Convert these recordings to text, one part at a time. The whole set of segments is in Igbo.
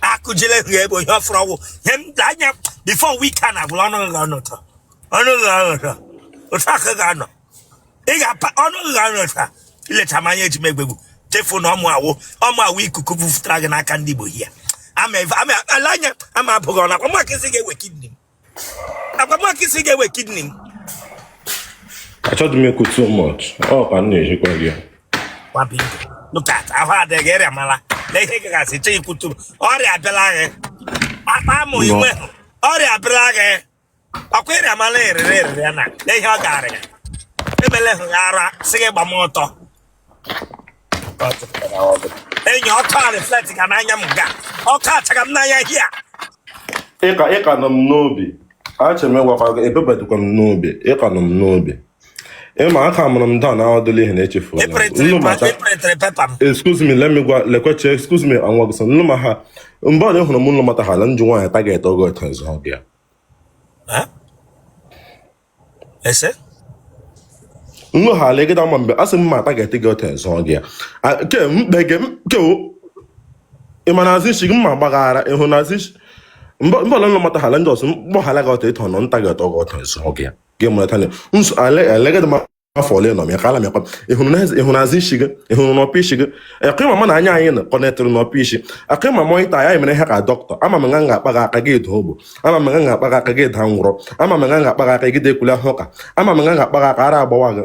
akụjile hụ ebe ihe ọfụrụ ọgwụ ihe m da anya before weekend agwụla ọnụ gị ọnụ ụtọ ọnụ gị ọnụ ụtọ otu aka gị anọ ị ga-apa ọnụ gị ọnụ ụtọ i leta m anya eji m egbe gbu chefu na ọ mụa wụ ọ mụa wụ ikuku bufutara gị n'aka ndị Igbo hia ama eve- ama ala anya ama abụghị ọnụ akwa maka isi ga-ewe kidney m agwa maka isi ga-ewe kidney m achọghị m ekwu too much ọ ka m na-ejikwa gị look at ahụ adịghị ịrịa mala na ihe gagasị chọ ikwutu ọrịa abịala gị akpa amụ inwe ọrịa abịala gị ọkwa ịrịa mala erere erere na ihe ọ ga-arịa emele hụ ya ara sị gị gba m ọtọ enyi ọkụ a reflect ga n'anya m ga ọkụ achaga m n'anya hia ị ka ị ka nọ m n'obi achọrọ m ịgwakwa gị ebebadịkwa m n'obi ị ka nọ m n'obi ị ma aka mụrụ m daa na ọdụlụ ihe na-echefu excuse me let me gwa lekweche excuse me anwa gị sọ nnu ma ha mgbe ọ hụrụ m nlụ mata ha na njụ nwaanyị taget ọgọ ọtọ nzọ ọbịa ese nwa ha ala egede ama mgbe asị m ma ata ga-ete gị ọta zụọ gị ya A- ke mkpe gị ke o- ị ma na azụ isi gị mma gbaghara ihu na azụ isi mba mba ọlụlụ mata hala ndị ọsụ mkpọ hala gị ọta ịtọ nọ nta gị ọtọ gị ọta zụọ gị ya gị mụrata na nso ala ala egede ma afọ ole nọ m ya ka ala m yakwa ị hụrụ azụ isi gị ị hụrụ n'ọpụ isi gị akụ ịma mụ na anya anyị nọ kọnetịrị n'ọpụ isi akụ ịma mọ ịta anyị mere ha ka dọkịta ama m nga m ga-akpa gị aka gị eda ogbu ama m nga m ga-akpa gị aka gị eda ngwụrọ ama m nga m ga-akpa gị aka gị dekwula ha ụka ama m nga m ga-akpa gị aka ara agbawa gị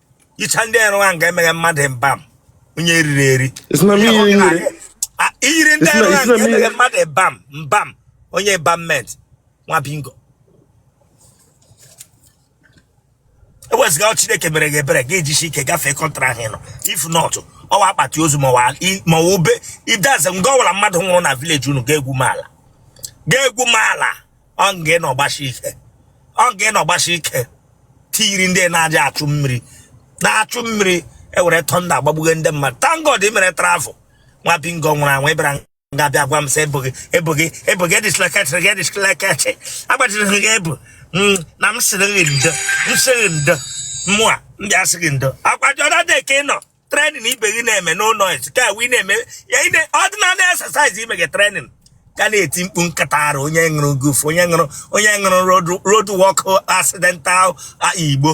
icha ndị erụ ahụ ga-emeghe mmadụ embalm onye riri eri i yiri ndị erụ ahụ ga-emeghe mmadụ embalm onye embalmment nwa bingo ewezuga ọ chineke mere gị ebere gị ejisi ike gafee country ahụ ị nọ if not ọ wụ akpati ozu ma ọ wụ i- ma ọ wụ ube idaze nga ọ wụla mmadụ nwụrụ na village unu ga-egwuma ala ga-egwuma ala ọ nga ị nọ gbasi ike ọ nga ị nọ gbasi ike tiyiri ndị na-aja achụ mmiri na-achụ mmiri ewere tọnda agbagbuge ndị mmadụ thank God ị mere travel nwa bingo nwụrụ anwụ ị bịara nga bịa gwa m sị ebughị ebughị ebughị edisleketịrị gị edisleketị agbachiri gị ebu mm, na m sịrị gị ndo m sịrị ndo mụa m bịa sị gị ndo akwa jọda dị ka ị nọ training ibe gị na-eme no noise ka ị na-eme ya ordinary exercise ime gị training gị ana-eti mkpu nkata ara onye ṅụrụ guf onye ṅụrụ onye ṅụrụ road work accidental igbo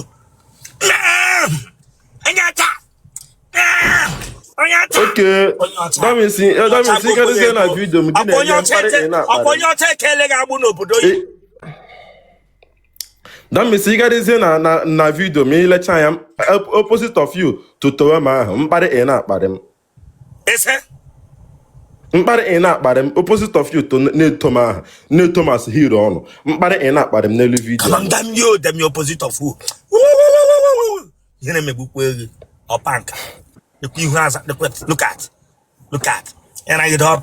onye ọcha okay that means eh, karịzie na vidio m gị na-enye mkparị ị na-akparị ọkwa onye ọcha ekele gị agbụ n'obodo that means ị gadịzie na na na video m ị lecha ya op- opposite of you tutowe m ahụ mkparị ị na-akparị m ị sị mkparị ị na-akparị m opposite of you to na-eto m ahụ na-eto m as hero ọnụ mkparị ị na-akparị m n'elu video come on damn you damn opposite of who ihe na-emegbukwa ego ọpa nka dịkwa ihu aza dịkwa look at look at ịragide ọpa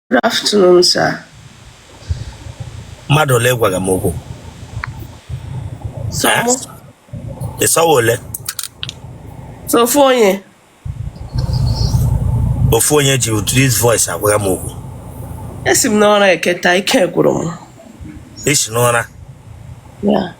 Good afternoon, sir. mmadụ ole gwaga m okwu So, Eh? ị sị ọ wụ ole sọ ofu onye. ofu onye ji ụdị this voice agwaga m okwu Esi m n'ụra eketa ike gwụrụ m. i si n'ụra Yeah.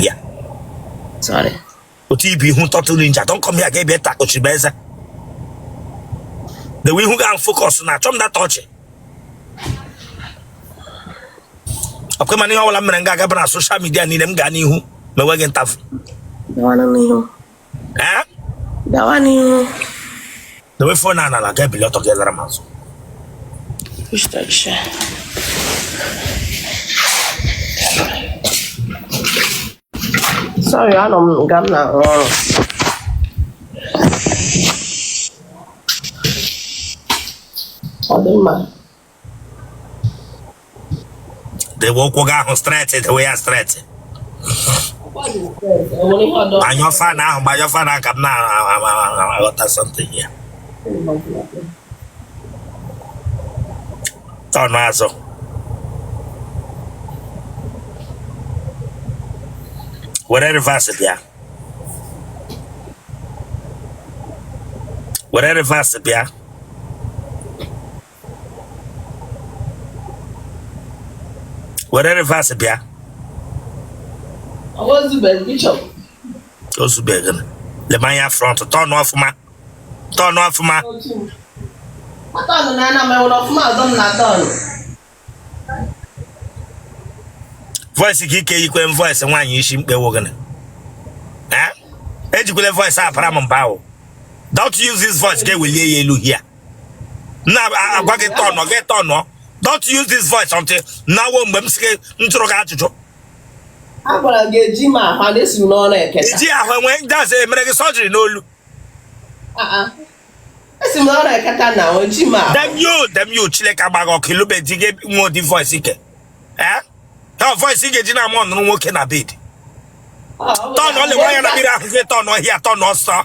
ya sorry otu ibu ihu turtle ninja don come here ga ebe ta kpochiri m eze dewe ihu gị focus na achọ m that ọchị ọkwa mana ihe ọbụla m mere m ga-agaba na social midia niile m gaa n'ihu ma enweghị ntafu Gawa n'ihu. Eh? Gawa n'ihu. Dewe phone a n'ala gaa ebili ọtọ gị lara m azụ. Distraction. Sorry, anọ m nga m na-arụ ọrụ. Ọ dị mma. dewe ụkwụ gị ahụ straight dewe ya straight gbanyụọ fan ahụ gbanyụọ fan ahụ ka m na-aghọta something here turn azụ were reverse bịa were reverse bịa were reverse bịa ozubeghị lema anya front turn ọfụma turn ọfụma voice gị ike yikwe voice nwaanyị isi mkpe ọ wụ gịnị ejikwele voice apara m mba ahụ don't use this voice ga-ewelie ya elu here na agwa gị turn gị turn don't use this voice until now ọ mgbe m si gị m jụrụ gị ajụjụ agwara gị eji m ahụ na esi n'ụra eketa i ji ahụ enwe ndị azụ emere gị surgery n'olu esi m n'ụra eketa na eji m ahụ damn you damn you chineke agba gị ọkụ ị lụbe di gị nwe ụdị voice ike ee ha voice ị ga-eji na-amoanụrụ nwoke na bed turn na-ele anya na mirror ahụ gị turn here turn ọsọ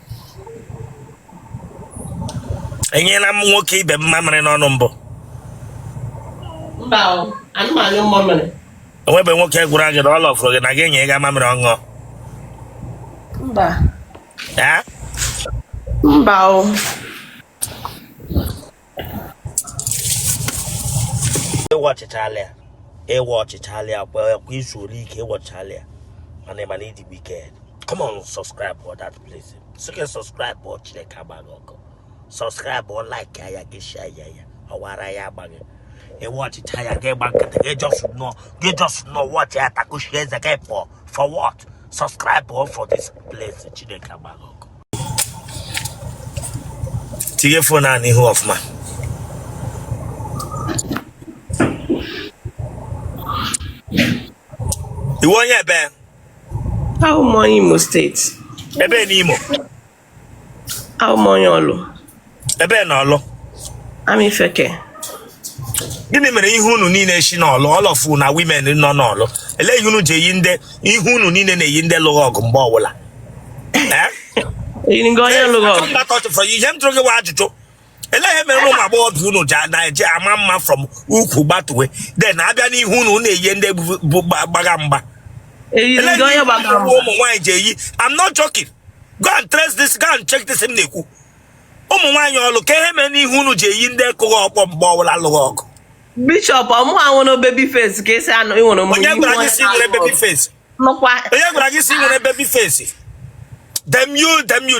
enyela m nwoke ibe m mamịrị n'ọnụ mbụ o nwebe nwoke gwara gị na ọ lọfụrụ gị na gị enye ya mamịrị ọ ṅụọ mba mba o ị watchịchaala ya ị watchịchaala ya kwa izu ole ike ị watchịchaala ya mana ị ma na ị dị wicked come on subscribe for that place so can subscribe for Chineke agba gị ọkụ subscribe or like ya gị share ya ya ọwara ya agba gị ị watchịcha ya gị gba nkịtị gị just nọ gị just nọ watch ya takushi eze gị for for what subscribe for this place Chineke agba gị ọkụ tinye fon a n'ihu ọfụma ị wụ onye ebee awụ m onye imo steeti ebee n'imo awụ m onye ọlụ ebee na ọlụ amaifeke gịnị mere ihe unu niile si n'ọlụ all of una women nọ n'ọlụ ele ihe unu ji eyi ndị ihu unu niile na-eyi ndị lụgha ọgụ mgbe ọbụla eh? ihe m jụrụ gị wụ ajụjụ ele ihe mere ụmụ agbọghọbịa unu ji na-eji ama mma from ukwu gbatuwe then abịa n'ihu unu na-eyi ndị gbagha mgba ele ihe ụmụ nwaanyị ji eyi I'm not joking go and trace this go and check this m na-ekwu ụmụ nwaanyị ọlụ kee ihe mere ihu unu ji eyi ndị kụgha ọkpọ mgbe ọbụla lụgha ọgụ bishop ọmụ anwụ na baby face ka esi anụ ịnwere mgbe onye gwara gị sị i nwere baby face nụkwa onye gwara gị sị i nwere baby face damn you damn you